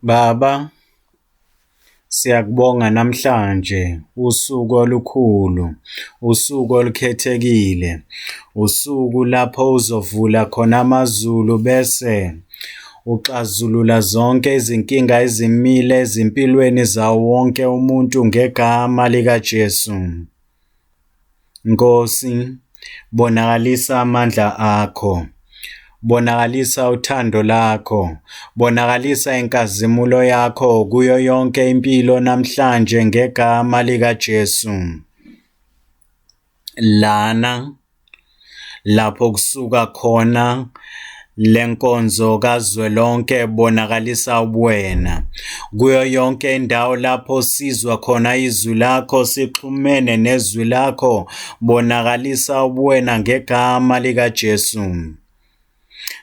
Baba, siyakubonga namhlanje usuku olukhulu, usuku olukhethekile, usuku lapho uzovula khona amazulu bese uxazulula zonke izinkinga ezimile ezimpilweni zawo wonke umuntu ngegama likaJesu. Nkosi, bonakalisa amandla akho. Bonakalisa uthando lakho. Bonakalisa inkazimulo yakho kuyo yonke impilo namhlanje ngegama likaJesu. Lana lapho kusuka khona lenkonzo kazwelonke bonakalisa ubuwena kuyo yonke indawo lapho sizwa khona izwi lakho sixhumene nezwi lakho bonakalisa ubuwena ngegama likaJesu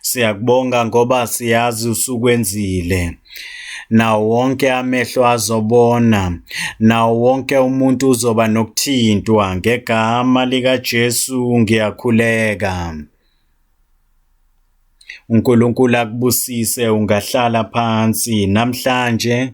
Siyakubonga ngoba siyazi usukwenzile. Nawo wonke amehlo azobona, nawo wonke umuntu uzoba nokuthintwa ngegama likaJesu ngiyakhuleka. uNkulunkulu akubusise ungahlala phansi namhlanje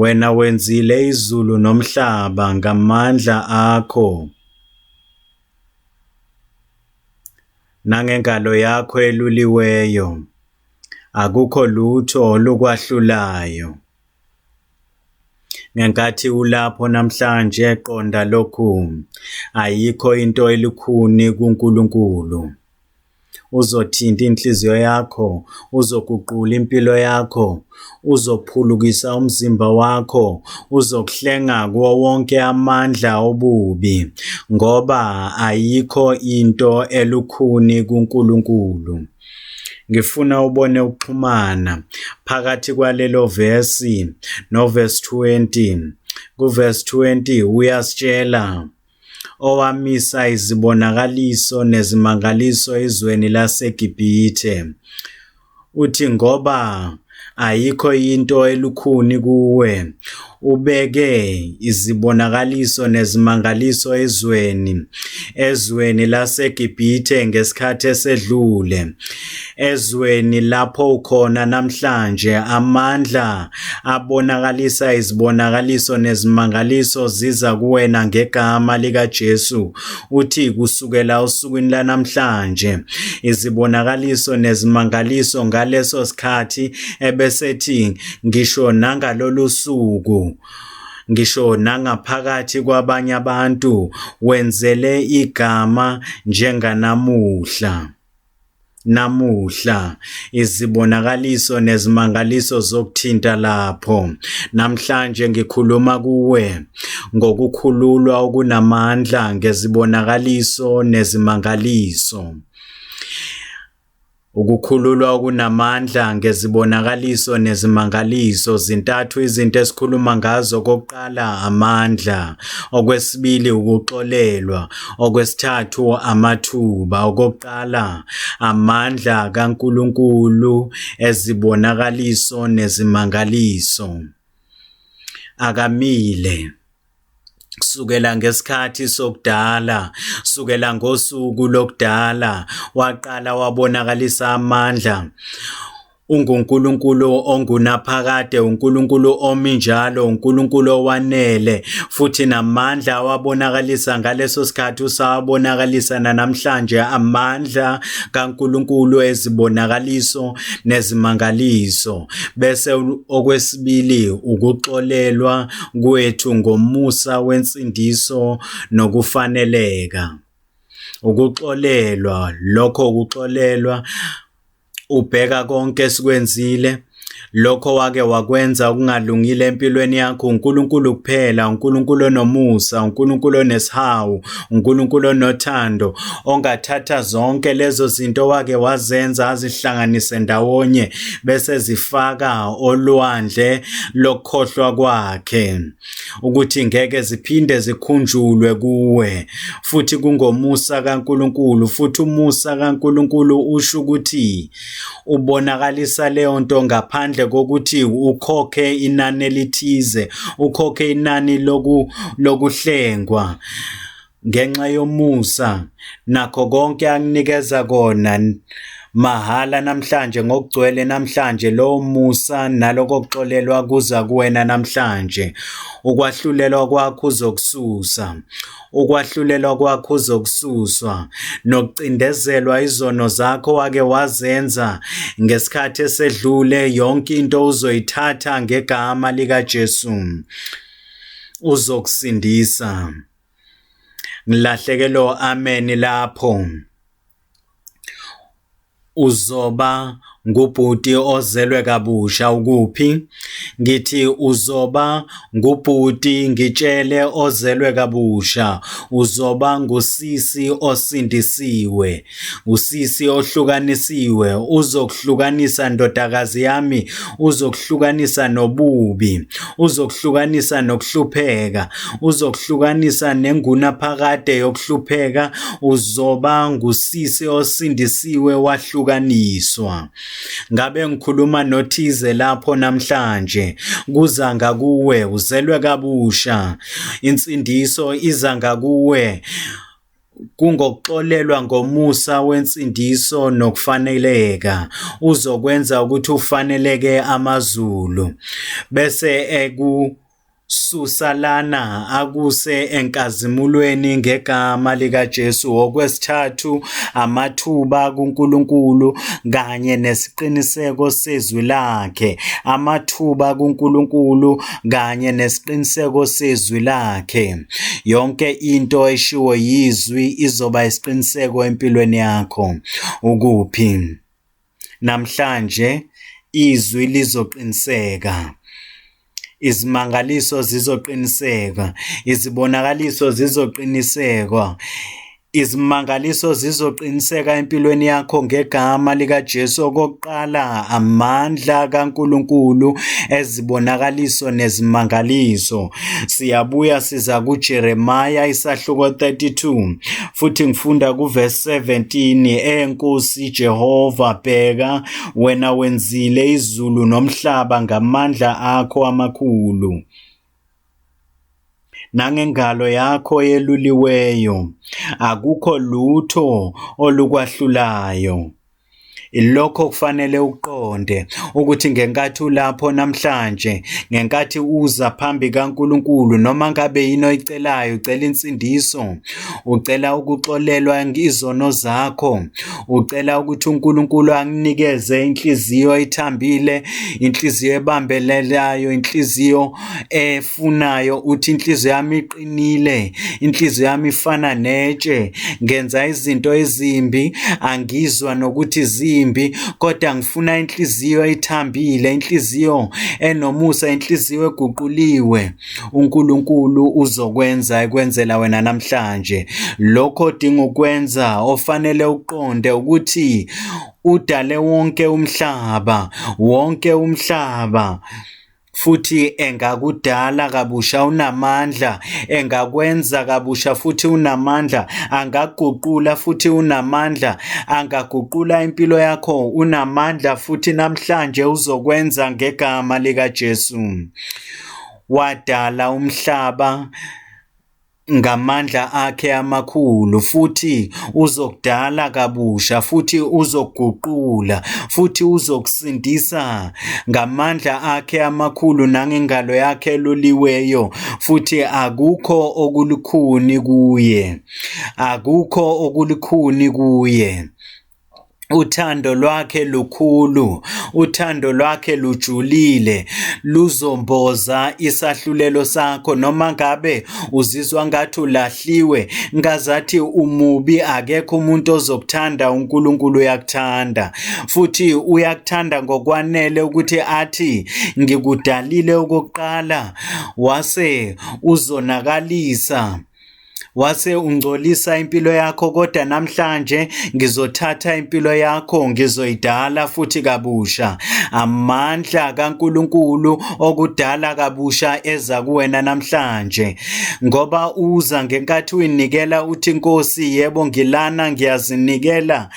Wena wenzile izulu nomhlaba ngamandla akho nangengalo yakho eluliweyo, akukho lutho olukwahlulayo. Ngenkathi ulapho namhlanje qonda lokhu, ayikho into elukhuni kuNkulunkulu. uzothinta inhliziyo yakho, uzoguqula impilo yakho, uzophulukisa umzimba wakho, uzokuhlenga kuwo wonke amandla obubi, ngoba ayikho into elukhuni kuNkulunkulu. Ngifuna ubone ukuxhumana phakathi kwalelo vesi noverse 20. Kuverse 20 uyasitshela owamisa izibonakaliso nezimangaliso ezweni laseGibhithe. Uthi ngoba ayikho into elukhuni kuwe, ubeke izibonakaliso nezimangaliso ezweni, ezweni laseGibhithe ngesikhathi esedlule. Ezweni lapho ukhona namhlanje, amandla abonakalisa izibonakaliso nezimangaliso ziza kuwena ngegama likaJesu. Uthi kusukela usukwini lanamhlanje, izibonakaliso nezimangaliso ngaleso sikhathi ebesethi ngisho nangalolu suku ngisho nangaphakathi kwabanye abantu wenzele igama njenganamuhla. namuhla izibonakaliso nezimangaliso zokuthinta lapho namhlanje ngikhuluma kuwe ngokukhululwa okunamandla ngezibonakaliso nezimangaliso Ukukhululwa okunamandla ngezibonakaliso nezimangaliso zintathu izinto esikhuluma ngazo okokuqala amandla okwesibili ukuxolelwa Okwesithathu amathuba. Okokuqala, amandla kaNkulunkulu ezibonakaliso nezimangaliso. Akamile kusukela ngesikhathi sokudala kusukela ngosuku lokudala waqala wabonakalisa amandla UnguNkulunkulu ongunaphakade, uNkulunkulu omi njalo, uNkulunkulu owanele, futhi namandla awabonakalisa ngaleso sikhathi usawabonakalisa nanamhlanje, amandla kaNkulunkulu ezibonakaliso nezimangaliso. Bese okwesibili ukuxolelwa kwethu ngomusa wensindiso nokufaneleka. Ukuxolelwa, lokho ukuxolelwa Ubheka konke esikwenzile, lokho wake wakwenza okungalungile empilweni yakho, uNkulunkulu kuphela, uNkulunkulu onomusa, uNkulunkulu onesihawu, uNkulunkulu onothando, ongathatha zonke lezo zinto wake wazenza azihlanganise ndawonye bese zifaka olwandle lokukhohlwa kwakhe. ukuthi ngeke ziphinde zikhunjulwe kuwe futhi kungomusa kaNkuluNkulu futhi umusa kaNkuluNkulu usho ukuthi ubonakalisa leyo nto ngaphandle kokuthi ukhokhe inani elithize ukhokhe inani loku lokuhlengwa ngenxa yomusa nakho konke anginikeza kona mahhala namhlanje ngokugcwele namhlanje lowo musa naloko kuxolelwa kuza kuwena namhlanje ukwahlulelwa kwakho uzokususa ukwahlulelwa kwakho uzokususwa nokucindezelwa izono zakho wake wazenza ngesikhathi esedlule yonke into uzoyithatha ngegama likaJesu uzokusindisa ngilahlekelo ameni lapho uzoba ngubhuti ozelwe kabusha ukuphi ngithi uzoba ngubhuti ngitshele ozelwe kabusha uzoba ngusisi osindisiwe Usisi ohlukanisiwe uzokuhlukanisa ndodakazi yami, uzokuhlukanisa nobubi, uzokuhlukanisa nokuhlupheka, uzokuhlukanisa nengunaphakade yokuhlupheka, uzoba ngusisi osindisiwe wahlukaniswa. Ngabe ngikhuluma nothize lapho namhlanje, kuza ngakuwe, uzelwe kabusha. Insindiso iza ngakuwe Kungokuxolelwa ngomusa wensindiso nokufaneleka, uzokwenza ukuthi ufaneleke amazulu, bese ekususa lana akuse enkazimulweni ngegama likaJesu. Okwesithathu, amathuba kuNkulunkulu kanye nesiqiniseko sezwi lakhe. Amathuba kuNkulunkulu kanye nesiqiniseko sezwi lakhe. Yonke into eshiwo yizwi izoba isiqiniseko empilweni yakho. Ukuphi? Namhlanje izwi lizoqiniseka. Izimangaliso zizoqiniseka, izibonakaliso zizoqinisekwa. Izimangaliso zizoqiniseka empilweni yakho ngegama likaJesu okokuqala amandla kaNkuluNkulu ezibonakaliso nezimangaliso. Siyabuya siza kuJeremiya isahluko 32 futhi ngifunda kuverse 17 eNkosi Jehova bheka wena wenzile izulu nomhlaba ngamandla akho amakhulu. nangengalo yakho yeluliweyo akukho lutho olukwahlulayo Ilokho okufanele uqonde ukuthi ngenkathi ulapho namhlanje, ngenkathi uza phambi kaNkulunkulu noma ngabe yini oyicelayo, ucela insindiso, ucela ukuxolelwa izono zakho, Ucela ukuthi uNkulunkulu anginikeze inhliziyo ethambile, inhliziyo ebambelelayo, inhliziyo efunayo. Uthi inhliziyo yami iqinile, inhliziyo yami ifana netshe. Ngenza izinto ezimbi, angizwa nokuthi zimbi, kodwa ngifuna inhliziyo ethambile, inhliziyo enomusa, inhliziyo eguquliwe. uNkulunkulu uzokwenza ekwenzela wena namhlanje. Lokho odinga ukwenza ofanele uqonde ukuthi udale wonke umhlaba, wonke umhlaba futhi engakudala kabusha unamandla engakwenza kabusha futhi unamandla angaguqula futhi unamandla angaguqula impilo yakho unamandla futhi namhlanje uzokwenza ngegama likaJesu Wadala umhlaba ngamandla akhe amakhulu futhi uzokudala kabusha futhi uzoguqula futhi uzokusindisa ngamandla akhe amakhulu nangengalo yakhe eloliweyo futhi akukho okulukhuni kuye akukho okulukhuni kuye uthando lwakhe lukhulu uthando lwakhe lujulile luzomboza isahlulelo sakho noma ngabe uzizwa ngathi ulahliwe ngazathi umubi akekho umuntu ozokuthanda uNkulunkulu uyakuthanda futhi uyakuthanda ngokwanele ukuthi athi ngikudalile okokuqala wase uzonakalisa wase ungcolisa impilo yakho kodwa namhlanje ngizothatha impilo yakho ngizoyidala futhi kabusha amandla kaNkuluNkulu okudala kabusha eza kuwena namhlanje ngoba uza ngenkathi uyinikela uthi Nkosi yebo ngilana ngiyazinikela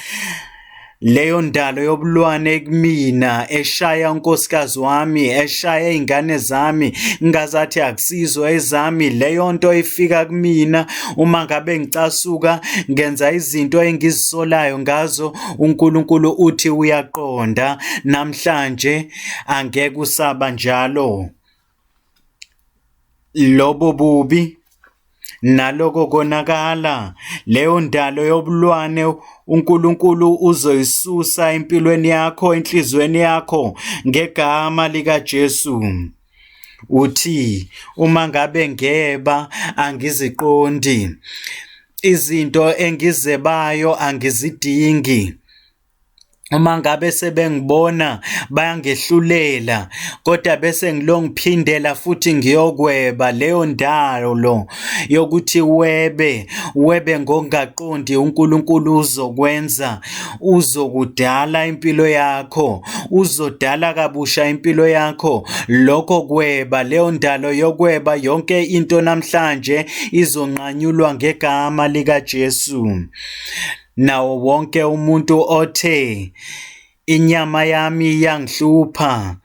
Leyo ndalo yobulwane kumina eshaya unkosikazi wami eshaya izingane zami ngazathi akusizo ezami leyo nto ifika kumina uma ngabe ngicasuka ngenza izinto engizisolayo ngazo uNkulunkulu uthi uyaqonda namhlanje angeke usaba njalo lobo bubi naloko konakala leyo ndalo yobulwane uNkulunkulu uzoyisusa empilweni yakho enhlizweni yakho ngegama lika Jesu uthi uma ngabe ngeba angiziqondi izinto engizebayo angizidingi uma ngabe sebengibona bayangehlulela kodwa bese ngilongiphindela futhi ngiyokweba leyo ndawo lo yokuthi webe webe ngongaqondi uNkulunkulu uzokwenza uzokudala impilo yakho uzodala kabusha impilo yakho lokho kweba leyo ndalo yokweba yonke into namhlanje izonqanyulwa ngegama lika Jesu Nawo wonke umuntu othe inyama yami iyangihlupha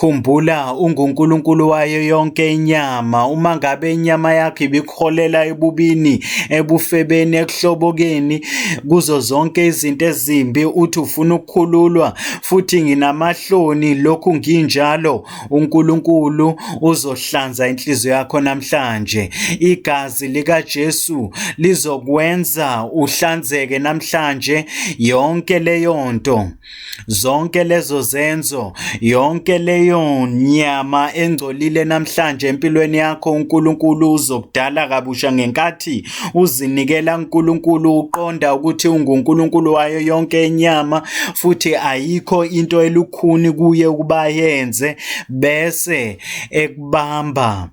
Khumbula unguNkulunkulu wayo yonke inyama. Uma ngabe inyama yakho ibikuholela ebubini, ebufebeni, ekuhlobokeni, kuzo zonke izinto ezimbi, uthi ufuna ukukhululwa, futhi nginamahloni lokhu nginjalo, uNkulunkulu uzohlanza inhliziyo yakho namhlanje. Igazi likaJesu lizokwenza uhlanzeke namhlanje yonke leyo nto. Zonke lezo zenzo, yonke leyo nyama engcolile namhlanje empilweni yakho uNkulunkulu uzokudala kabusha ngenkathi uzinikela uNkulunkulu uqonda ukuthi unguNkulunkulu wayo yonke inyama futhi ayikho into elu isikhuni kuye ukuba yenze bese ekubamba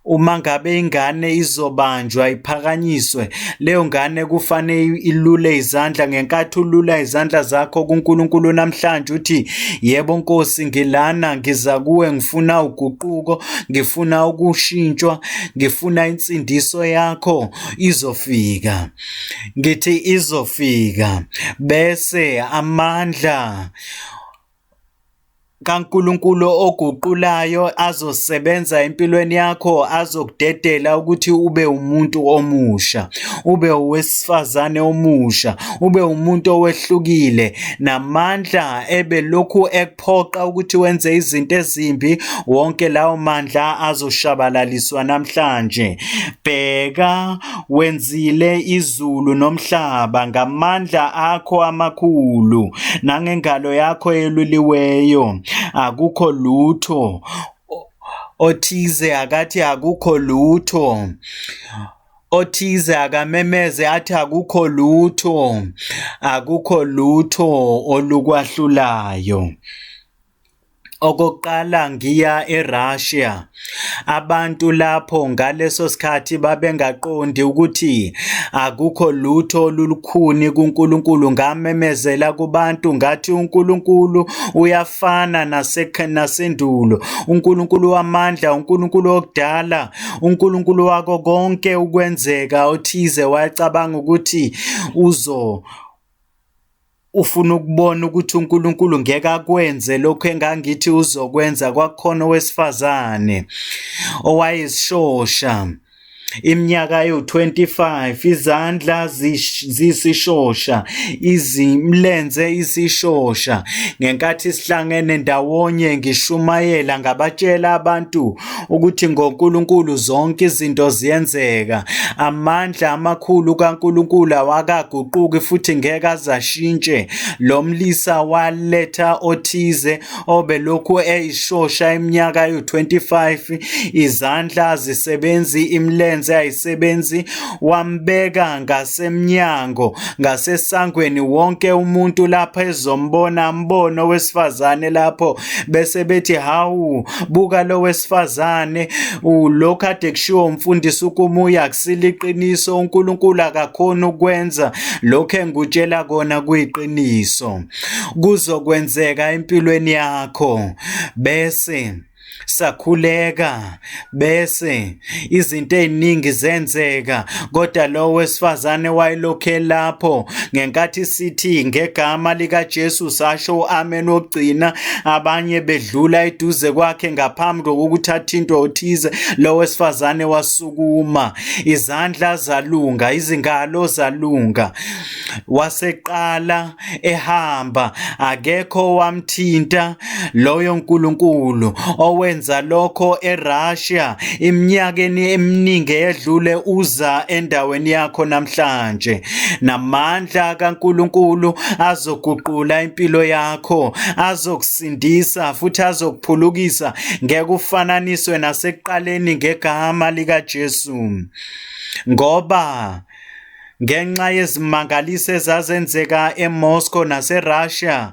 uma ngabe ingane izobanjwa iphakanyiswe leyo ngane kufanele ilule izandla ngenkathi ulula izandla zakho kuNkulunkulu namhlanje uthi yebo Nkosi ngilana ngiza kuwe ngifuna uguquko ngifuna ukushintshwa ngifuna insindiso yakho izofika ngithi izofika bese amandla kaNkulunkulu oguqulayo azosebenza empilweni yakho azokudedela ukuthi ube umuntu omusha ube owesifazane omusha ube umuntu owehlukile namandla ebelokhu ekuphoqa ukuthi wenze izinto ezimbi wonke lawo mandla azoshabalaliswa namhlanje bheka Wenzile izulu nomhlaba ngamandla akho amakhulu nangengalo yakho eluliweyo. Akukho lutho othize akathi akukho lutho othize akamemeze athi akukho lutho akukho lutho olukwahlulayo Okokuqala ngiya eRussia abantu lapho ngaleso sikhathi babengaqondi ukuthi akukho lutho olulukhuni kuNkulunkulu ngamemezela kubantu ngathi uNkulunkulu uyafana nasendulo uNkulunkulu wamandla uNkulunkulu okudala uNkulunkulu wako konke ukwenzeka othize wayecabanga ukuthi uzo Ufuna ukubona ukuthi uNkulunkulu ngeke akwenze lokho engangithi uzokwenza kwakhona owesifazane owayesishosha iminyaka ewu-25 izandla zisishosha izimlenze isishosha ngenkathi sihlangene ndawonye ngishumayela ngabatshela abantu ukuthi ngoNkulunkulu zonke izinto ziyenzeka. Amandla amakhulu kaNkulunkulu awakaguquki futhi ngeke azashintshe. Lo mlisa waletha othize obelokhu eyishosha iminyaka yo-25, izandla azisebenzi, imilenze ayisebenzi, wambeka ngasemnyango, ngasesangweni wonke umuntu lapha ezombona, ambone owesifazane lapho bese bethi hawu buka lo wesifazane lo kade kushiwo umfundisi ukumuya akusile iqiniso uNkulunkulu akakhona ukwenza lokho engikutshela kona kuyiqiniso kuzokwenzeka empilweni yakho bese sakhuleka bese izinto eziningi zenzeka kodwa lowo wesifazane wayelokhe lapho ngenkathi sithi ngegama likaJesu sasho uamen ogcina abanye bedlula eduze kwakhe ngaphambi kokuthi athintwe othize lowo wesifazane wasukuma izandla zalunga izingalo zalunga waseqala ehamba akekho wamthinta loyo nkulunkulu owenza lokho eRussia iminyakeni eminingi edlule uza endaweni yakho namhlanje namandla kaNkulunkulu azoguqula impilo yakho azokusindisa futhi azokuphulukisa ngekufananiswe nasekuqaleni ngegama likaJesu ngoba ngenxa yezimangaliso ezazenzeka eMoscow naseRussia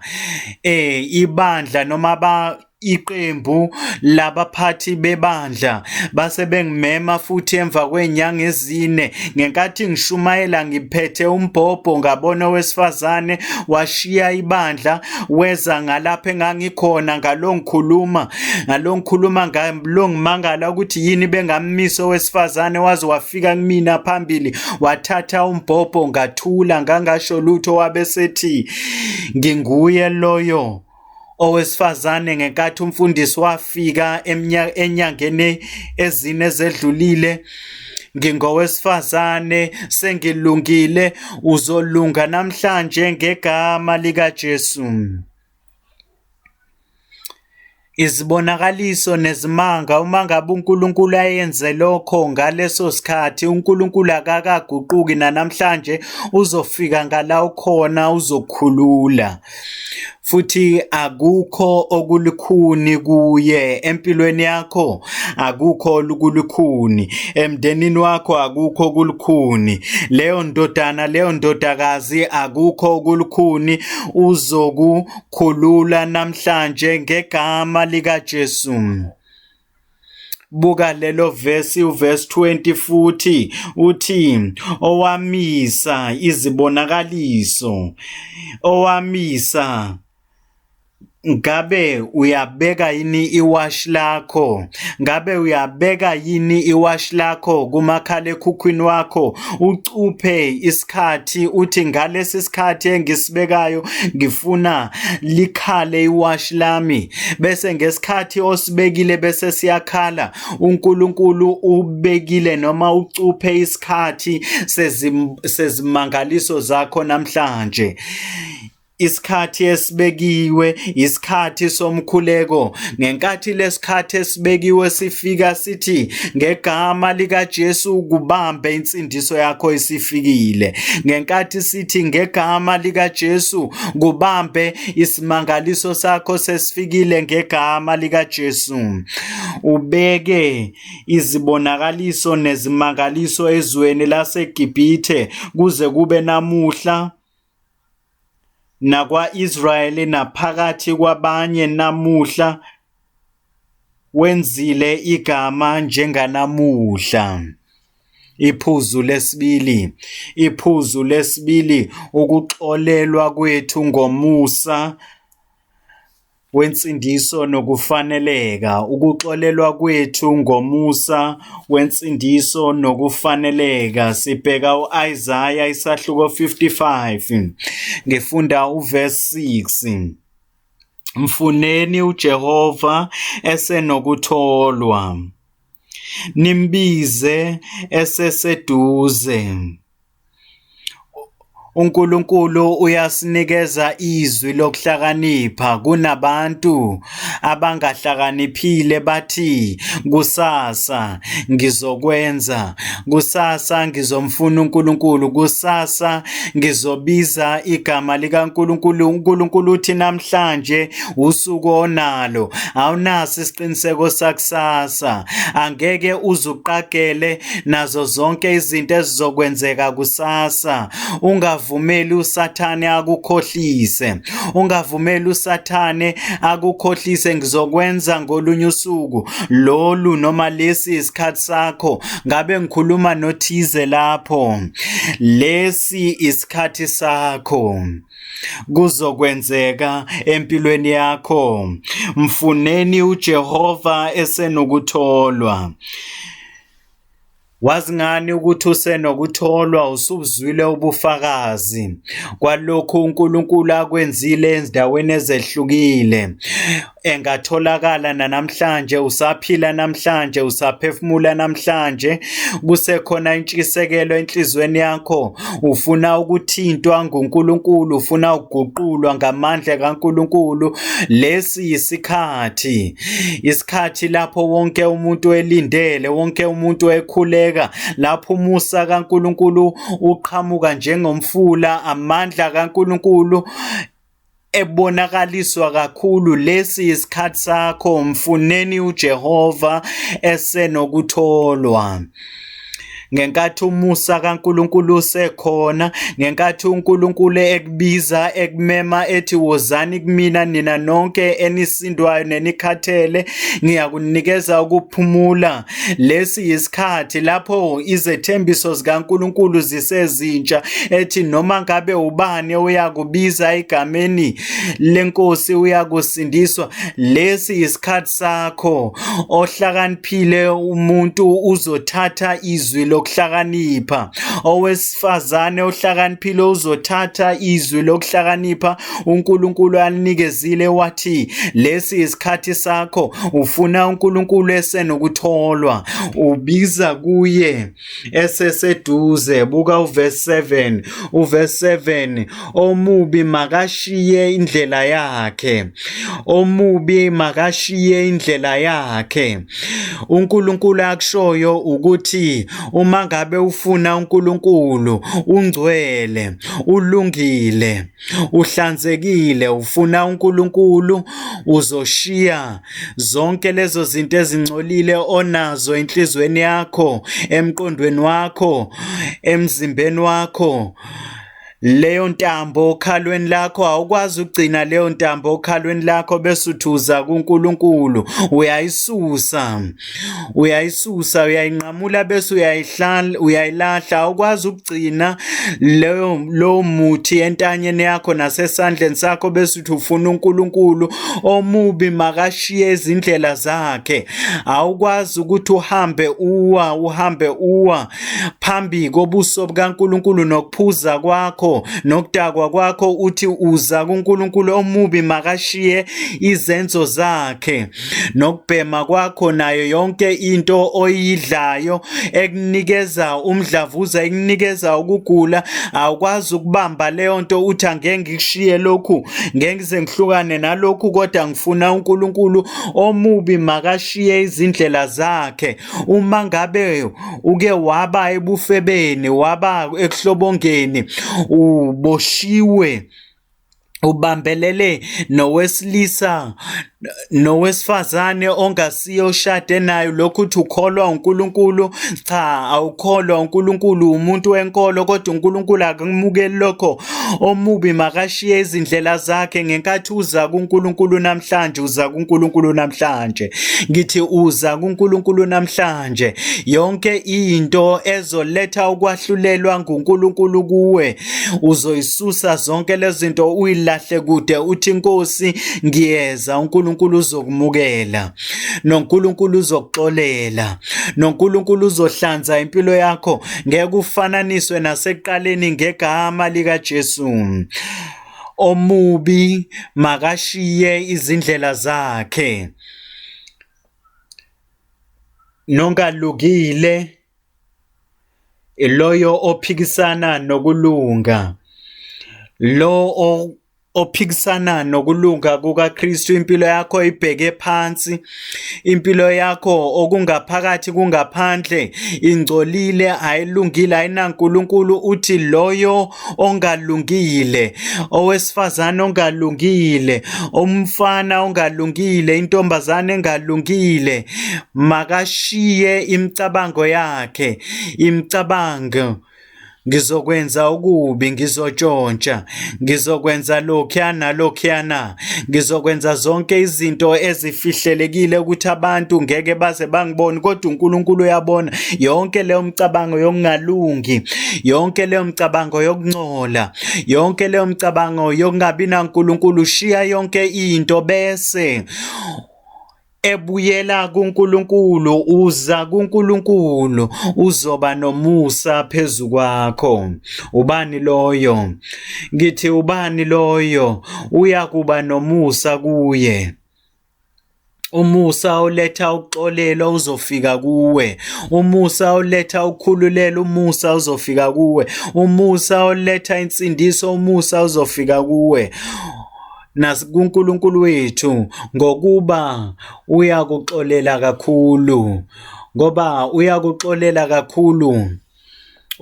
eh ibandla noma ba iqembu labaphathi bebandla base bengimema futhi emva kwenyanga ezine ngenkathi ngishumayela ngiphethe umbhobho ngabona owesifazane washiya ibandla weza ngalapha engangikhona ngalongikhuluma ngalo ngikhuluma ngayo lo ngimangala ukuthi yini bengammisa owesifazane waze wafika kumina phambili wathatha umbhobho ngathula ngangasho lutho wabesethi nginguye loyo owesifazane ngenkathi umfundisi wafika enyangeni ezine zedlulile ngingowesifazane sengilungile uzolunga namhlanje ngegama likaJesu Izibonakaliso nezimanga, uma ngabe uNkulunkulu ayenze lokho ngaleso sikhathi, uNkulunkulu akakaguquki nanamhlanje, uzofika ngala ukhona uzokhulula. Futhi akukho okulukhuni kuye empilweni yakho, akukho olukulukhuni emndenini wakho, akukho okulukhuni leyo ndodana, leyo ndodakazi, akukho okulukhuni uzokukhulula namhlanje ngegama likaJesu. Buka lelo vesi uverse 20 futhi uthi owamisa izibonakaliso owamisa Ngabe uyabeka yini iwashi lakho? Ngabe uyabeka yini iwashi lakho kumakhalekhukhwini wakho ucuphe isikhathi uthi ngalesi sikhathi engisibekayo ngifuna likhale iwashi lami bese ngesikhathi osibekile bese siyakhala uNkulunkulu ubekile noma ucuphe isikhathi sezimangaliso zakho namhlanje Isikhathi esibekiwe yisikhathi somkhuleko. Ngenkathi lesikhathi esibekiwe sifika sithi ngegama likaJesu kubambe insindiso yakho isifikile. Ngenkathi sithi ngegama likaJesu kubambe isimangaliso sakho sesifikile ngegama likaJesu. Ubeke izibonakaliso nezimangaliso ezweni laseGibhithe kuze kube namuhla nakwa-Israyeli naphakathi kwabanye namuhla wenzile igama njenganamuhla. Iphuzu lesibili, iphuzu lesibili ukuxolelwa kwethu ngomusa wensindiso nokufaneleka, ukuxolelwa kwethu ngomusa wensindiso nokufaneleka. Sibheka u-Isaya isahluko 55, ngifunda uverse 6. Mfuneni uJehova esenokutholwa, nimbize eseseduze. UNkulunkulu uyasinikeza izwi lokuhlakanipha kunabantu abangahlakaniphile bathi kusasa ngizokwenza kusasa ngizomfuna uNkulunkulu kusasa ngizobiza igama likaNkulunkulu uNkulunkulu uthi namhlanje usuku onalo awunaso isiqiniseko sakusasa angeke uzuqagele nazo zonke izinto ezizokwenzeka kusasa. Ungavumeli uSathane akukhohlise, ungavumeli uSathane akukhohlise. Ngizokwenza ngolunye usuku lolu noma lesi isikhathi sakho. Ngabe ngikhuluma nothize lapho, lesi isikhathi sakho kuzokwenzeka empilweni yakho. Mfuneni uJehova esenokutholwa. Wazi ngani ukuthi usenokutholwa usubuzwile ubufakazi kwalokhu uNkulunkulu akwenzile ezindaweni ezehlukile engatholakala nanamhlanje usaphila namhlanje usaphefumula namhlanje kusekhona intshisekelo enhlizweni yakho ufuna ukuthintwa nguNkulunkulu, ufuna ukuguqulwa ngamandla kaNkulunkulu. Lesi isikhathi, isikhathi lapho wonke umuntu elindele, wonke umuntu ekhuleka, lapho umusa kaNkulunkulu uqhamuka njengomfula, amandla kaNkulunkulu ebonakaliswa kakhulu lesi isikhathi sakho mfuneni uJehova esenokutholwa ngenkathi umusa kaNkuluNkulu usekhona ngenkathi uNkuluNkulu ekubiza ekumema ethi wozani kumina nina nonke enisindwayo nenikhathele ngiyakunikeza ukuphumula Lesi yisikhathi lapho izethembiso zikaNkulunkulu zisezintsha ethi noma ngabe ubani uyakubiza egameni lenkosi uyakusindiswa lesi yisikhathi sakho ohlakaniphile umuntu uzothatha izwi lokuhlakanipha owesifazane ohlakaniphile uzothatha izwi lokuhlakanipha uNkulunkulu alinikezile wathi lesi isikhathi sakho ufuna uNkulunkulu esenokutholwa ubiza kuye eseseduze buka uverse 7 uverse 7 omubi makashiye indlela yakhe omubi makashiye indlela yakhe uNkulunkulu akushoyo ukuthi uma ngabe ufuna uNkulunkulu ungcwele ulungile uhlanzekile ufuna uNkulunkulu uzoshiya zonke lezo zinto ezingcolile onazo enhlizweni yakho emqondweni wakho emzimbeni wakho leyo ntambo okhalweni lakho awukwazi ukugcina leyo ntambo okhalweni lakho bese uthuza kuNkulunkulu uyayisusa uyayisusa uyayinqamula bese uyayihlala uyayilahla awukwazi ukugcina leyo lowo muthi entanyeni yakho nasesandleni sakho bese uthi ufuna uNkulunkulu omubi makashiye izindlela zakhe awukwazi ukuthi uhambe uwa uhambe uwa phambi kobuso bukaNkulunkulu nokuphuza kwakho nokudakwa kwakho uthi uza kuNkulunkulu omubi makashiye izenzo zakhe nokubhema kwakho nayo yonke into oyidlayo ekunikeza umdlavuza ekunikeza ukugula awukwazi ukubamba leyo nto uthi angeke ngikushiye lokhu ngeke ngize ngihlukane nalokhu kodwa ngifuna uNkulunkulu omubi makashiye izindlela zakhe uma ngabe uke waba ebufebeni waba ekuhlobongeni uboshiwe ubambelele nowesilisa nowesifazane ongasiyo ushade nayo lokhu uthi ukholwa uNkulunkulu cha awukholwa uNkulunkulu umuntu wenkolo kodwa uNkulunkulu akumukeli lokho omubi makashiye izindlela zakhe ngenkathi uza kuNkulunkulu namhlanje uza kuNkulunkulu namhlanje ngithi uza kuNkulunkulu namhlanje yonke into ezoletha ukwahlulelwa nguNkulunkulu kuwe uzoyisusa zonke lezinto uyilahle kude uthi inkosi ngiyeza uNkulunkulu uzokumukela noNkulunkulu uzokuxolela noNkulunkulu uzohlanza impilo yakho ngeke ufananiswe naseqaleni ngegama lika Jesu omubi makashiye izindlela zakhe nongalukile iloyo ophikisana nokulunga lo ophikisana nokulunga kukaKristu impilo yakho ibheke phansi impilo yakho okungaphakathi kungaphandle ingcolile ayilungile ayinaNkulunkulu uthi loyo ongalungile owesifazane ongalungile umfana ongalungile intombazane engalungile makashiye imicabango yakhe imicabango ngizokwenza okubi ngizotshontsha ngizokwenza lokhuyana lokhuyana Ngizokwenza zonke izinto ezifihlelekile ukuthi abantu ngeke baze bangibone kodwa uNkulunkulu uyabona yonke leyo mcabango yokungalungi yonke leyo mcabango yokuncola yonke leyo mcabango yokungabi naNkulunkulu shiya yonke into bese Ebuyela kuNkulunkulu uza kuNkulunkulu uzoba nomusa phezu kwakho. Ubani loyo? Ngithi ubani loyo uyakuba nomusa kuye. Umusa oletha ukuxolela uzofika kuwe. Umusa oletha ukukhululela umusa uzofika kuwe. Umusa oletha insindiso umusa uzofika kuwe. nakuNkulunkulu wethu ngokuba uyakuxolela kakhulu ngoba uyakuxolela kakhulu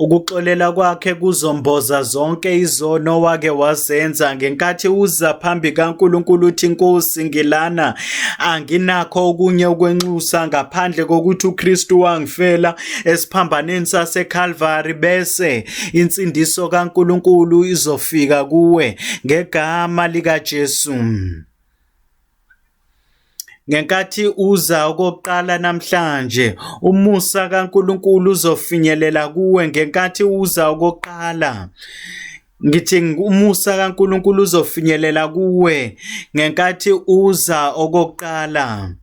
Ukuxolela kwakhe kuzomboza zonke izono wake wazenza ngenkathi uza phambi kaNkulunkulu uthi Nkosi ngilana anginakho okunye ukwenxusa ngaphandle kokuthi uKristu wangifela esiphambanweni saseKalvari bese insindiso kaNkuluNkulu izofika kuwe ngegama likaJesu. Ngenkathi uza okokuqala namhlanje, umusa kaNkuluNkulu uzofinyelela kuwe ngenkathi uza okokuqala. Ngithi umusa kaNkuluNkulu uzofinyelela kuwe ngenkathi uza okokuqala.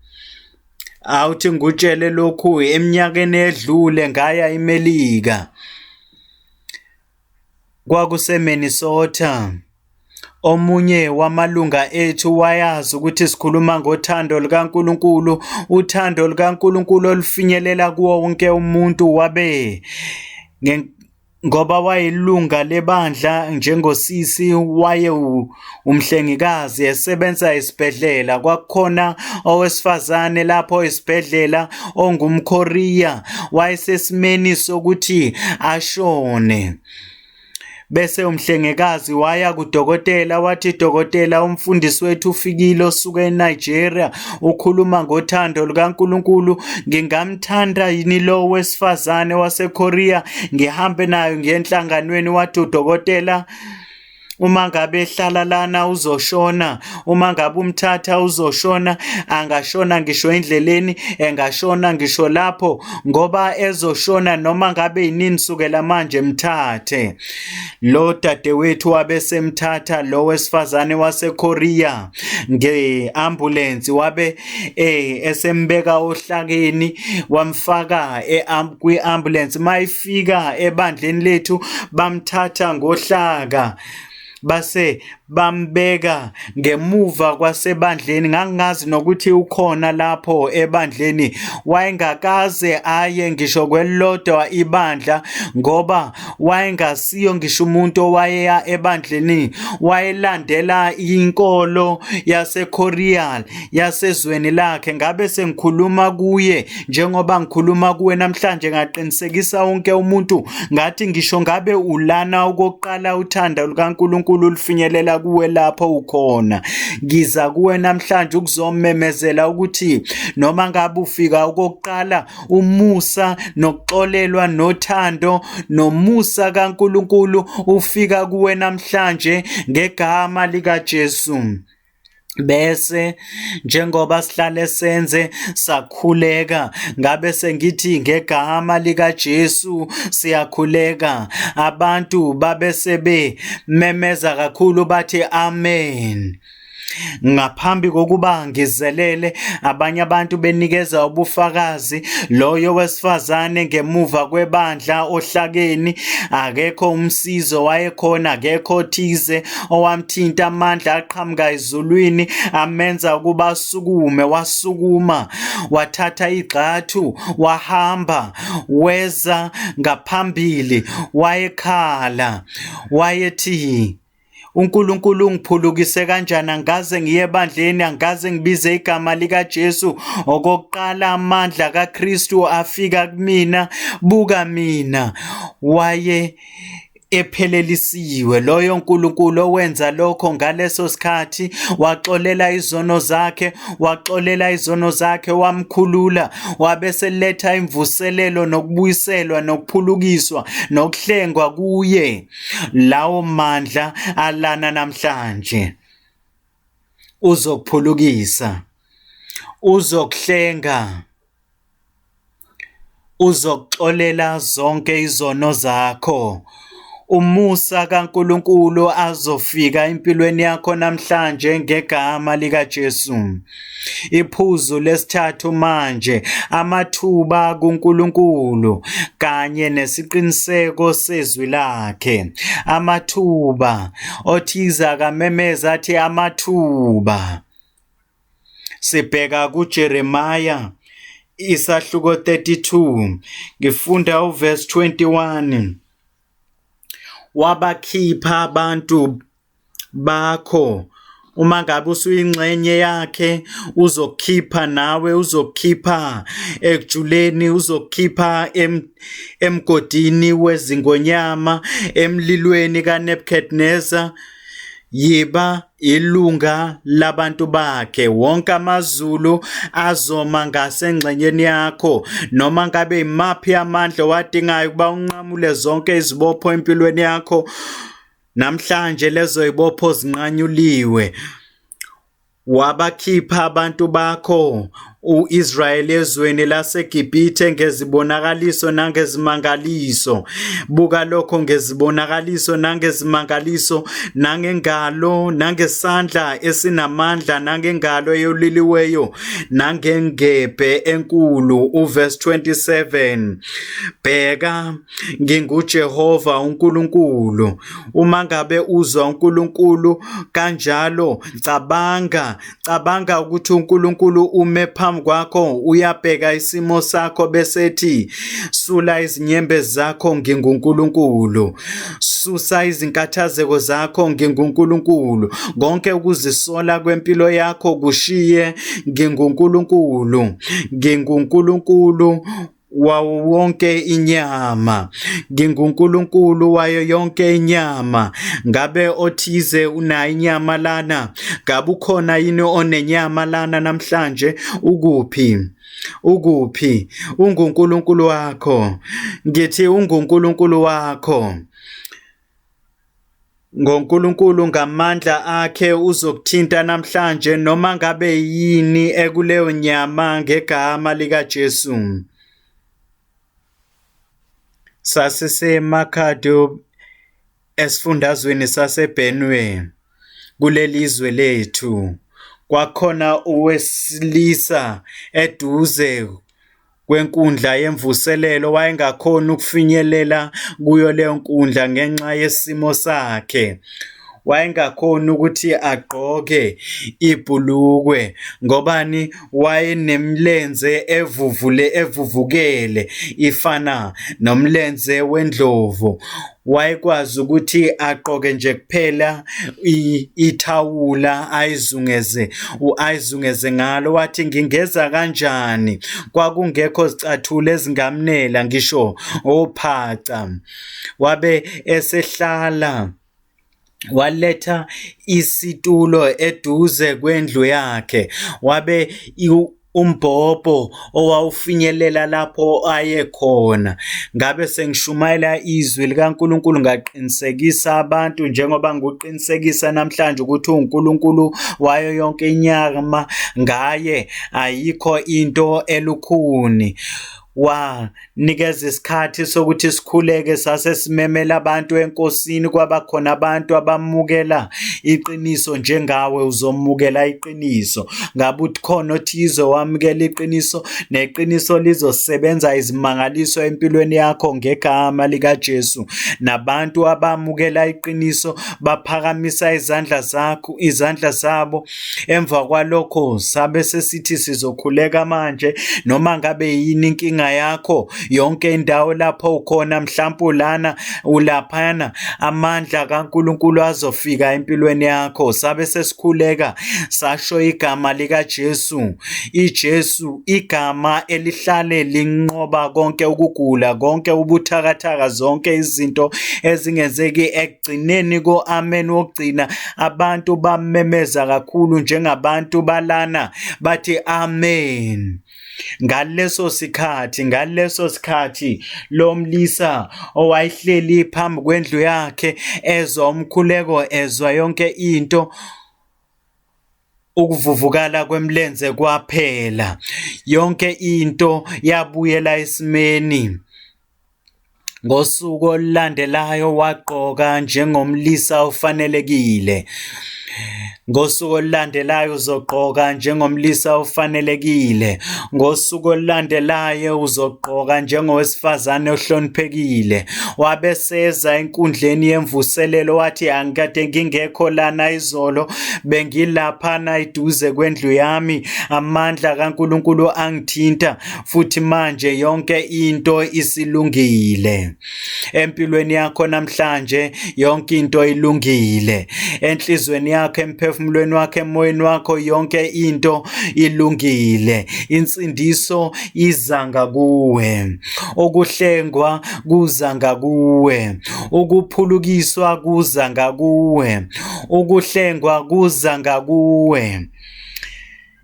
Awuthi ngutshele lokhu eminyakeni edlule ngaya iMelika. KwakuseMinnesota. Omunye wamalunga ethu wayazi ukuthi sikhuluma ngothando lukaNkulunkulu, uthando lukaNkulunkulu olufinyelela kuwo wonke umuntu wabe ngoba wayelunga lebandla njengosisi waye umhlengikazi esebenza esibhedlela kwakukhona owesifazane lapho esibhedlela ongumKorea wayesesimeni sokuthi ashone bese umhlengekazi waya kudokotela wathi dokotela umfundisi wethu ufikile osuke eNigeria ukhuluma ngothando lukaNkulunkulu ngingamthanda yini lo wesifazane waseKorea ngihambe nayo ngenhlanganweni wathi udokotela uma ngabe ehlala lana uzoshona uma ngabe umthatha uzoshona angashona ngisho endleleni engashona ngisho lapho ngoba ezoshona noma ngabe yinini sukela manje mthathe Lo dadewethu wabe semthatha lo wesifazane waseKorea ngeambulensi wabe eh esembeka ohlakeni wamfaka e kwiambulensi mayifika ebandleni lethu bamthatha ngohlaka base bambeka ngemuva kwasebandleni ngangingazi nokuthi ukhona lapho ebandleni wayengakaze aye ngisho kwelodwa ibandla ngoba wayengasiyo ngisho umuntu owayeya ebandleni wayelandela inkolo yaseKoreal yasezweni lakhe ngabe sengikhuluma kuye Njengoba ngikhuluma kuwe namhlanje ngaqinisekisa wonke umuntu ngathi ngisho ngabe ulana okokuqala uthanda lukaNkulunkulu lufinyelela kuwe lapho ukhona. Ngiza kuwe namhlanje ukuzomemezela ukuthi noma ngabe ufika okokuqala umusa nokuxolelwa nothando nomusa kaNkulunkulu ufika kuwe namhlanje ngegama likaJesu. bese njengoba sihlale senze sakhuleka ngabe sengithi ngegama lika Jesu siyakhuleka abantu babe sebe memeza kakhulu bathi amen Ngaphambi kokuba ngizelele abanye abantu benikeza ubufakazi loyo wesifazane ngemuva kwebandla ohlakeni akekho umsizo wayekhona akekho thize owamthinta amandla aqhamuka ezulwini amenza ukuba asukume wasukuma wathatha igxathu wahamba weza ngaphambili wayekhala wayethi uNkulunkulu ungiphulukise kanjani angaze ngiye ebandleni angaze ngibize igama lika Jesu okokuqala amandla kaKristu afika kumina buka mina waye ephelelisiwe. Loyo Nkulunkulu owenza lokho ngaleso sikhathi waxolela izono zakhe, waxolela izono zakhe, wamkhulula, wabeseletha imvuselelo nokubuyiselwa nokuphulukiswa nokuhlengwa kuye. Lawo mandla alana namhlanje. Uzokuphulukisa. Uzokuhlenga. Uzokuxolela zonke izono zakho. Umusa kaNkulunkulu azofika empilweni yakho namhlanje ngegama likaJesu. Iphuzu lesithathu manje, amathuba kuNkulunkulu kanye nesiqiniseko sezwi lakhe. Amathuba, othize akamemeza athi amathuba. sibheka kuJeremiah isahluko 32 ngifunda uverse 21 wabakhipha abantu bakho uma ngabe usuyingxenye yakhe uzokhipha nawe uzokhipha ekujuleni uzokhipha em, emgodini wezingonyama emlilweni kaNebuchadnezzar yiba ilunga labantu bakhe wonke amazulu azoma ngasengxenyeni yakho noma ngabe imaphi amandla wadingayo ukuba unqamule zonke izibopho empilweni yakho namhlanje lezo ibopho zinqanyuliwe wabakhipha abantu bakho u-Israyeli ezweni laseGibhithe ngezibonakaliso nangezimangaliso. Buka lokho ngezibonakaliso nangezimangaliso, nangengalo, nangesandla esinamandla, nangengalo eyoliliweyo, nangengebhe enkulu. Uverse 27. Bheka, nginguJehova uNkulunkulu. Uma ngabe uzwa uNkulunkulu kanjalo, cabanga, Cabanga ukuthi uNkulunkulu ume phambi kwakho uyabheka isimo sakho bese ethi sula izinyembe zakho nginguNkulunkulu susa izinkathazeko zakho nginguNkulunkulu konke ukuzisola kwempilo yakho kushiye nginguNkulunkulu nginguNkulunkulu wawo wonke inyama nginguNkulunkulu wayo yonke inyama ngabe othize unayo inyama lana ngabe ukhona yini onenyama lana namhlanje ukuphi ukuphi unguNkulunkulu wakho ngithi unguNkulunkulu wakho NgoNkulunkulu ngamandla akhe uzokuthinta namhlanje noma ngabe yini ekuleyo nyama ngegama likaJesu. Sasisemakhado esifundazweni saseBenue kuleli zwe lethu. Kwakhona owesilisa eduze kwenkundla yemvuselelo wayengakhoni ukufinyelela kuyo leyo nkundla ngenxa yesimo sakhe wayengakhoni ukuthi agqoke ibhulukwe ngobani wayenemilenze evuvule evuvukele ifana nomlenze wendlovu wayekwazi ukuthi aqoke nje kuphela ithawula ayizungeze ayizungeze ngalo wathi ngingeza kanjani kwakungekho zicathula ezingamnela ngisho ophaca wabe esehlala waletha isitulo eduze kwendlu yakhe wabe umbhobho owawufinyelela lapho ayekhona ngabe sengishumayela izwi likaNkuluNkulu ngaqinisekisa abantu njengoba ngikuqinisekisa namhlanje ukuthi uNkuluNkulu wayo yonke inyama ngaye ayikho into elukhuni wanikeza isikhathi sokuthi sikhuleke sase simemela abantu enkosini kwaba khona abantu abamukela iqiniso njengawe uzomukela iqiniso ngabe uthi khona othize wamukela iqiniso neqiniso lizosebenza izimangaliso empilweni yakho ngegama likaJesu nabantu abamukela iqiniso baphakamisa izandla zakho izandla zabo Emva kwalokho sabe sesithi sizokhuleka manje noma ngabe yini inkinga yakho yonke indawo lapho ukhona mhlawumbe ulana ulaphana amandla kaNkuluNkulu azofika empilweni yakho sabe sesikhuleka sasho igama lika Jesu iJesu igama elihlale linqoba konke ukugula konke ubuthakathaka zonke izinto ezingenzeki ekugcineni ko-amen wokugcina abantu bamemeza kakhulu njengabantu balana bathi amen ngaleso sikhathi ngaleso sikhathi lo mlisa owayehleli phambi kwendlu yakhe ezwa umkhuleko ezwa yonke into ukuvuvukala kwemlenze kwaphela yonke into yabuyela esimeni ngosuku olulandelayo wagqoka njengomlisa ofanelekile ngosuku olulandelayo uzogqoka njengomlisa ofanelekile ngosuku olulandelayo uzogqoka njengowesifazane ohloniphekile wabeseza enkundleni yemvuselelo wathi angikade ngingekho lana izolo bengilaphana eduze kwendlu yami amandla kaNkuluNkulu angithinta futhi manje yonke into isilungile empilweni yakho namhlanje yonke into ilungile enhlizweni yakho emphefumulweni wakho emoyeni wakho yonke into ilungile insindiso iza ngakuwe okuhlengwa kuza ngakuwe ukuphulukiswa kuza ngakuwe ukuhlengwa kuza ngakuwe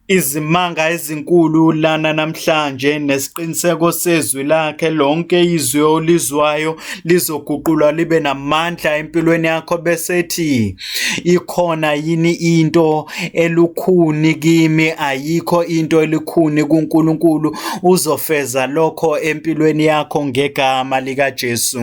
izimanga ezinkulu lana namhlanje nesiqiniseko sezwi lakhe lonke izwi olizwayo lizoguqulwa libe namandla empilweni yakho bese ethi ikhona yini into elukhuni kimi ayikho into elikhuni kuNkulunkulu uzofeza lokho empilweni yakho ngegama likaJesu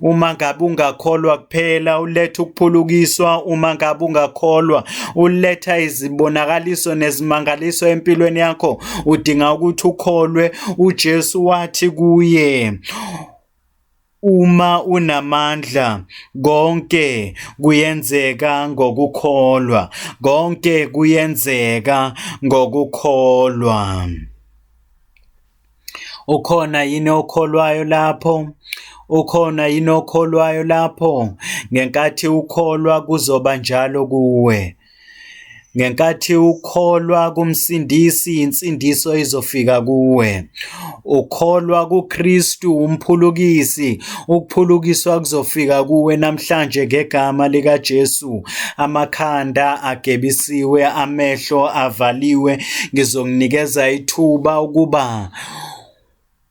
uma ngabe ungakholwa kuphela uletha ukuphulukiswa uma ngabe ungakholwa uletha izibonakaliso nezimangaliso empilweni yakho udinga ukuthi ukholwe uJesu wathi kuye uma unamandla konke kuyenzeka ngokukholwa konke kuyenzeka ngokukholwa Ukhona yini okholwayo lapho? Ukhona yini okholwayo lapho? Ngenkathi ukholwa kuzoba njalo kuwe. Ngenkathi ukholwa kumsindisi insindiso izofika kuwe. Ukholwa kuKristu umphulukisi Ukuphulukiswa kuzofika kuwe namhlanje ngegama likaJesu. Amakhanda agebisiwe, amehlo avaliwe, ngizokunikeza ithuba ukuba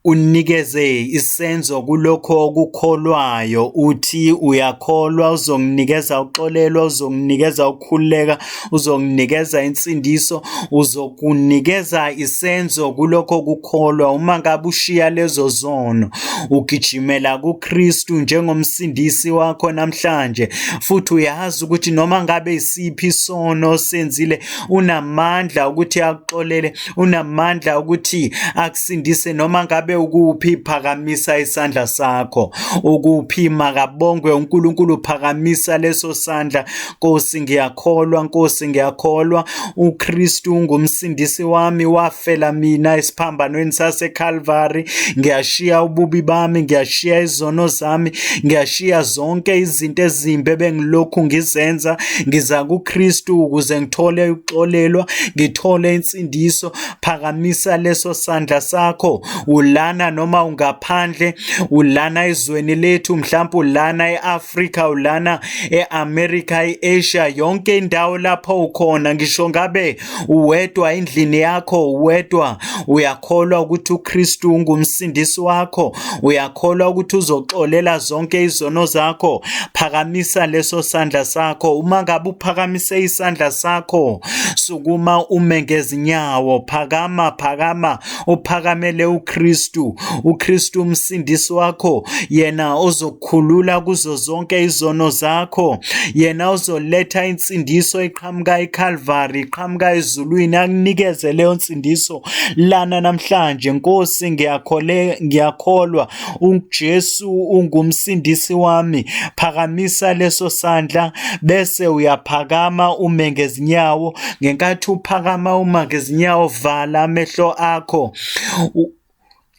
unikeze isenzo kulokho okukholwayo uthi uyakholwa uzonginikeza uxolelwa uzonginikeza ukukhululeka uzonginikeza insindiso uzokunikeza isenzo kulokho kukholwa uma ngabe ushiya lezo zono ugijimela kuKristu njengomsindisi wakho namhlanje futhi uyazi ukuthi noma ngabe isiphi isono senzile unamandla ukuthi akuxolele unamandla ukuthi akusindise noma ngabe ukuphi phakamisa isandla sakho ukuphi makabongwe uNkulunkulu phakamisa leso sandla Nkosi ngiyakholwa Nkosi ngiyakholwa uKristu ungumsindisi wami wafela mina esiphambanweni sase Calvary ngiyashiya ububi bami ngiyashiya izono zami ngiyashiya zonke izinto ezimbe bengilokhu ngizenza ngiza kuKristu ukuze ngithole ukuxolelwa ngithole insindiso phakamisa leso sandla sakho ulana noma ungaphandle ulana ezweni lethu mhlawumbe ulana eAfrika ulana e-America, e-Asia, yonke indawo lapho ukhona, ngisho ngabe uwedwa endlini yakho, uwedwa, uyakholwa ukuthi uKristu ungumsindisi wakho, uyakholwa ukuthi uzoxolela zonke izono zakho, phakamisa leso sandla sakho. Uma ngabe uphakamise isandla sakho, sukuma ume ngezinyawo, phakama, phakama, uphakamele uKristu, uKristu umsindisi wakho, yena ozo uzokukhulula kuzo zonke izono zakho yena uzoletha insindiso eqhamuka eCalvary iqhamuka ezulwini akunikeze leyo nsindiso lana namhlanje Nkosi ngiyakhole ngiyakholwa uJesu ungumsindisi wami phakamisa leso sandla bese uyaphakama ume ngezinyawo ngenkathi uphakama uma ngezinyawo vala amehlo akho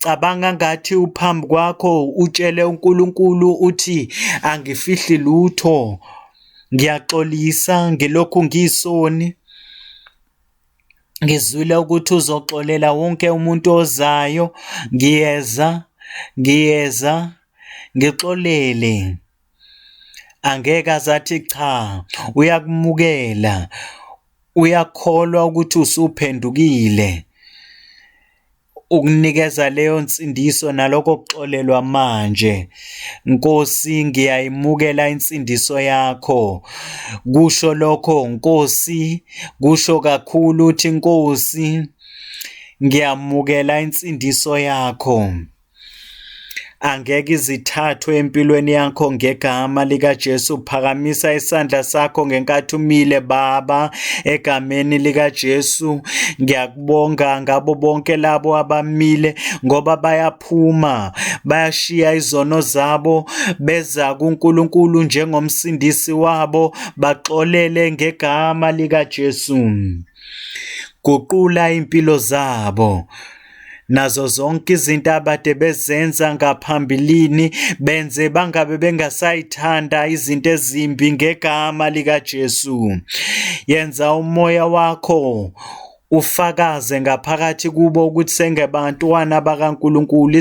Cabanga ngathi uphambi kwakho utshele uNkulunkulu uthi angifihli lutho. Ngiyaxolisa ngilokhu ngisoni. Ngizwile ukuthi uzoxolela wonke umuntu ozayo. Ngiyeza, ngiyeza, ngixolele. Angeke azathi cha, uyakumukela. Uyakholwa ukuthi usuphendukile. ukunikeza leyo nsindiso naloko kuxolelwa manje Nkosi ngiyayimukela insindiso yakho kusho lokho Nkosi kusho kakhulu uthi Nkosi ngiyamukela insindiso yakho Angeke izithathwe empilweni yakho ngegama likaJesu. Phakamisa isandla sakho ngenkathi umile Baba, egameni likaJesu. Ngiyakubonga ngabo bonke labo abamile ngoba bayaphuma, bayashiya izono zabo beza kuNkulunkulu njengomsindisi wabo, baxolele ngegama likaJesu. Guqula impilo zabo. nazo zonke izinto abade bezenza ngaphambilini benze bangabe bengasayithanda izinto ezimbi ngegama likaJesu yenza umoya wakho ufakaze ngaphakathi kubo ukuthi sengebantwana bakaNkuluNkulu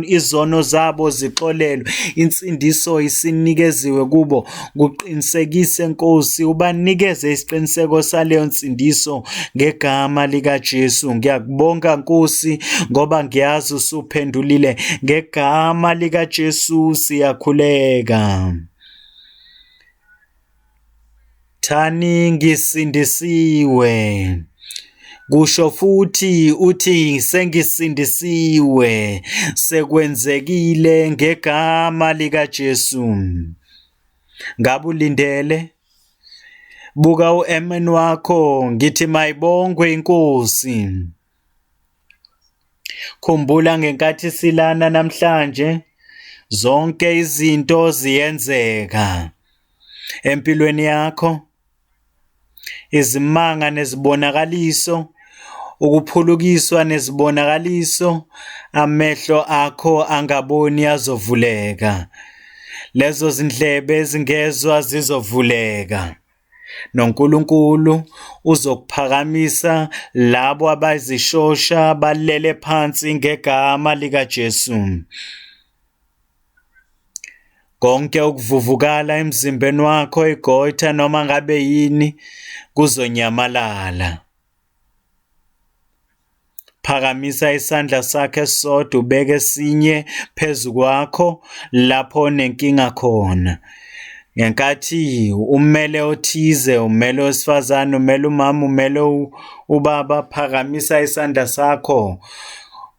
izono zabo zixolelwe insindiso isinikeziwe kubo Kuqinisekise, Nkosi, ubanikeze isiqiniseko saleyo nsindiso ngegama likaJesu. Ngiyakubonga, Nkosi, ngoba ngiyazi usuphendulile. Ngegama likaJesu siyakhuleka. Thani ngisindisiwe. Kusho futhi uthi sengisindisiwe sekwenzekile ngegama likaJesu. ngabulindele buka uMN wakho ngithi mayibongwe inkosi khumbula ngenkathi silana namhlanje zonke izinto ziyenzeka empilweni yakho izimanga nezibonakaliso, ukuphulukiswa nezibonakaliso, amehlo akho angaboni azovuleka, lezo zindlebe ezingezwa zizovuleka. NoNkulunkulu uzokuphakamisa labo abazishosha balele phansi ngegama likaJesu. Konke ukuvuvukala emzimbeni wakho igoitha noma ngabe yini kuzonyamalala. Phakamisa isandla sakho esisodwa ubeke esinye phezu kwakho lapho onenkinga khona. Ngenkathi umele othize, umele owesifazane, umele umama, umele ubaba, phakamisa isandla sakho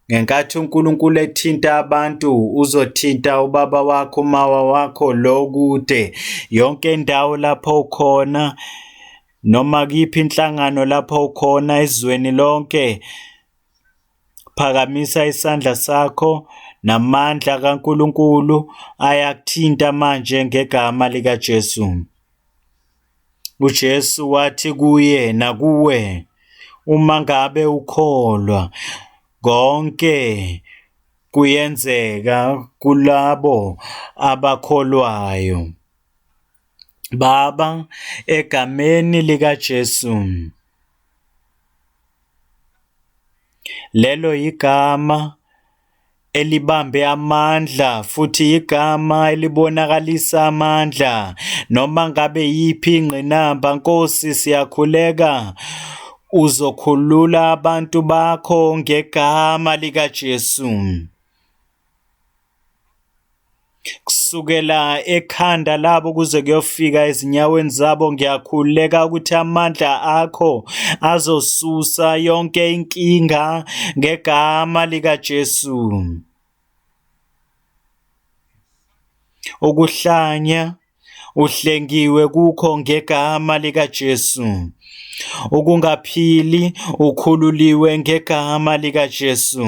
Ngenkathi uNkulunkulu ethinta abantu, uzothinta ubaba wakho, umawa wakho, lo kude, yonke indawo lapho ukhona, noma kuyiphi inhlangano lapho ukhona ezweni lonke. Phakamisa isandla sakho namandla kaNkulunkulu ayakuthinta manje ngegama likaJesu. uJesu wathi kuye nakuwe uma ngabe ukholwa konke kuyenzeka kulabo abakholwayo Baba egameni likaJesu lelo igama elibambe amandla futhi igama elibonakalisa amandla noma ngabe yiphi ingqinamba Nkosi siyakhuleka uzokhulula abantu bakho ngegama likaJesu kusukela ekhanda labo kuze kuyofika ezinyaweni zabo ngiyakhuleka ukuthi amandla akho azosusa yonke inkinga ngegama likaJesu ukuhlanya uhlengiwe kukho ngegama likaJesu ukungaphili ukhululiwe ngegama likaJesu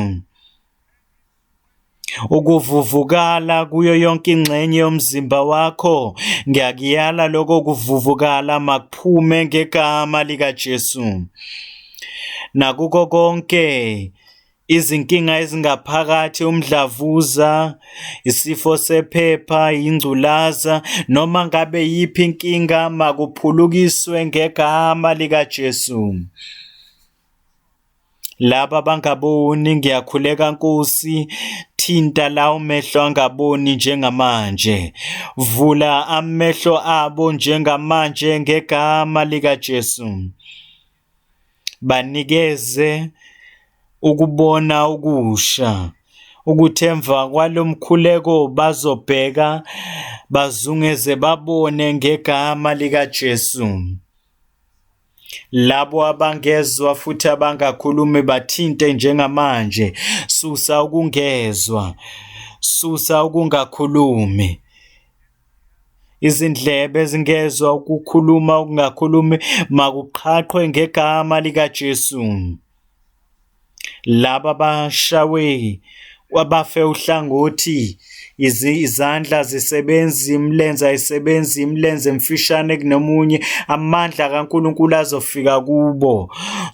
Ukuvuvukala kuyo yonke ingxenye yomzimba wakho. Ngiyakuyala lokho kuvuvukala makuphume ngegama likaJesu. Nakuko konke izinkinga ezingaphakathi umdlavuza, isifo sephepha, ingculaza noma ngabe yiphi inkinga makuphulukiswe ngegama likaJesu. Laba bangaboni ngiyakhuleka Nkosi thinta lawo mehlo angaboni njengamanje vula amehlo abo njengamanje ngegama lika Jesu banikeze ukubona ukusha ukuthi emva kwalomkhuleko bazobheka bazungeze babone ngegama lika Jesu Labo abangezwa futhi abangakhulumi bathinte njengamanje. Susa ukungezwa. Susa ukungakhulumi. Izindlebe ezingezwa ukukhuluma okungakhulumi makuqhaqhwe ngegama likaJesu. Laba bashawe kwabafe uhlangothi, izandla azisebenzi, imilenze ayisebenzi, imilenze emfishane kunomunye, amandla kaNkulunkulu azofika kubo.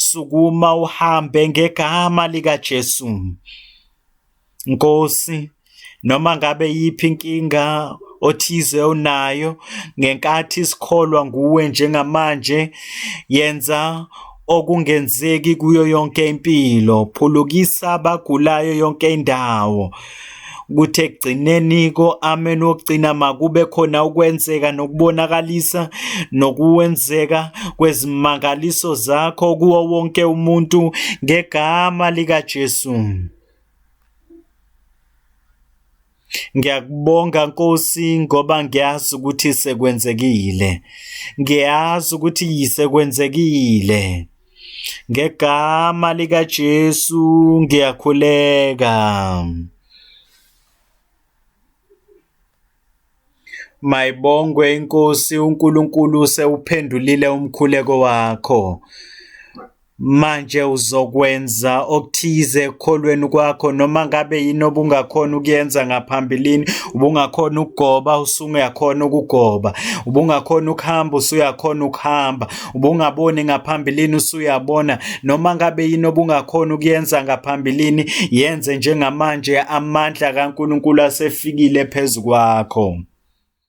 Sukuma uhambe ngegama likaJesu. Nkosi, noma ngabe yiphi inkinga othize onayo ngenkathi sikholwa nguwe njengamanje yenza okungenzeki kuyo yonke impilo phulukisa abagulayo yonke indawo ukuthi ekugcineni ko-amen wokugcina makube khona ukwenzeka nokubonakalisa nokuwenzeka kwezimangaliso zakho kuwo wonke umuntu ngegama likaJesu. Ngiyakubonga Nkosi ngoba ngiyazi ukuthi sekwenzekile. Ngiyazi ukuthi yisekwenzekile. Ngegama lika Jesu ngiyakhuleka. Mayibongwe inkosi uNkulunkulu usewuphendulile umkhuleko wakho. Manje uzokwenza okuthize ekukholweni kwakho noma ngabe yini obungakhona ukuyenza ngaphambilini, ubungakhona ukugoba usungakhona ukugoba, ubungakhona ukuhamba usuyakhona ukuhamba, ubungaboni ngaphambilini usuyabona noma ngabe yini obungakhona ukuyenza ngaphambilini yenze njengamanje amandla kaNkulunkulu asefikile phezu kwakho